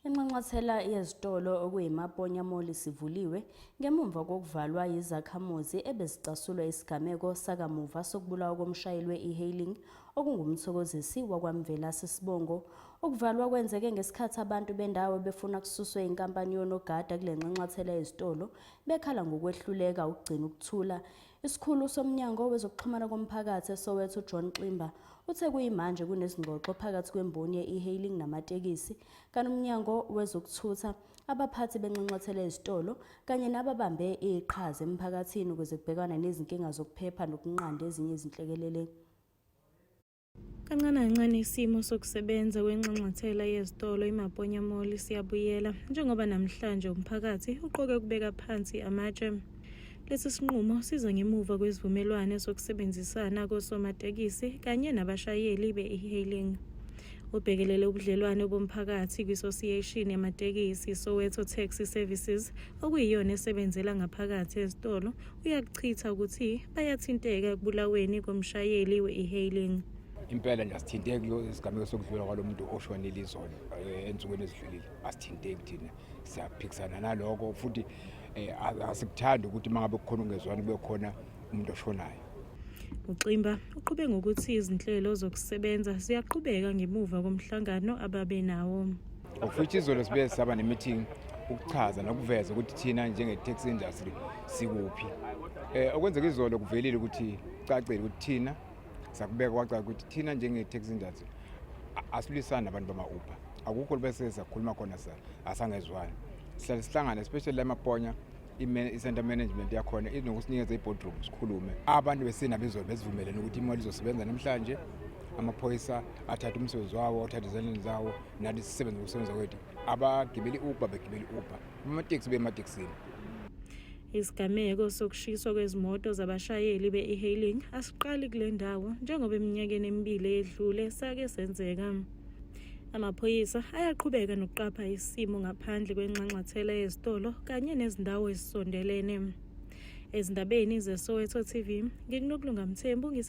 Inxanxathela yezitolo okuyiMaponya Mall isivuliwe ngemumva kokuvalwa yizakhamuzi ebezicasulwa isigameko sakamuva sokubulawa komshayeli we-e-hailing okungumthokozisi wakwaMvelase Sibongo. Ukuvalwa kwenzeke ngesikhathi abantu bendawo befuna kususwe inkampani yonogada kule nxanxathela yezitolo bekhala ngokwehluleka ukugcina ukuthula Isikhulu somnyango wezokuxhumana komphakathi eSoweto uJohn Ximba uthe kuyimanje kunezingxoxo phakathi kwemboni ye-e-hailing namatekisi kanomnyango wezokuthutha abaphathi benxanxathela ezitolo kanye nababambe iqhaza emphakathini ukuze kubhekwane nezinkinga zokuphepha nokunqanda ezinye izinhlekelele. Kancane kancane isimo sokusebenza kwenxanxathela yezitolo iMaponya Mall siyabuyela njengoba namhlanje umphakathi uqoke ukubeka phansi amatshe. Lesi sinqumo siza ngemuva kwesivumelwane sokusebenzisana kosomatekisi kanye nabashayeli be-e-hailing. Ubhekelele ubudlelwane bomphakathi kwi-Association yamatekisi Soweto Taxi Services okuyiyona esebenzela ngaphakathi ezitolo uyakuchitha ukuthi bayathinteka ekubulaweni komshayeli we-e-hailing impela nje asithinteki lo sigameko sokudlula kwalo muntu oshonile izolo eh, ensukwini ezidlulile asithinteki thina siyaphikisana naloko futhi eh, asikuthandi ukuthi uma ngabe kukhona ungezwani kube khona umuntu oshonayo uximba uqhube ngokuthi izinhlelo zokusebenza ziyaqhubeka ngemuva komhlangano ababe nawo Ngokufithi izolo sibe saba ne-meeting ukuchaza nokuveza ukuthi thina njenge-taxi industry sikuphi. Eh okwenzeka izolo kuvelile ukuthi cacile ukuthi thina sakubeka kwacaca ukuthi thina njenge-taxi industry asilisani nabantu bama-uber akukho bese sakhuluma khona sa asangezwani sihlale sihlangane especially lamaponya i-center management yakhona inokusinikeza i-boardroom sikhulume abantu besina bezolo besivumelene ukuthi imali izosebenza namhlanje amaphoyisa athathe umsebenzi wawo athathe ezandleni zawo nathi sisebenza ngokusebenza kwethu abagibeli uber begibeli uber amateksi bemateksini Isigameko sokushiswa kwezimoto zabashayeli be-e-hailing asiqali kule ndawo njengoba eminyakeni emibili eyedlule sake senzeka. Amaphoyisa ayaqhubeka nokuqapha isimo ngaphandle kwenxanxathela yezitolo kanye nezindawo ezisondelene. Ezindabeni zeSoweto TV, ngikuNokulunga Mthembu ngise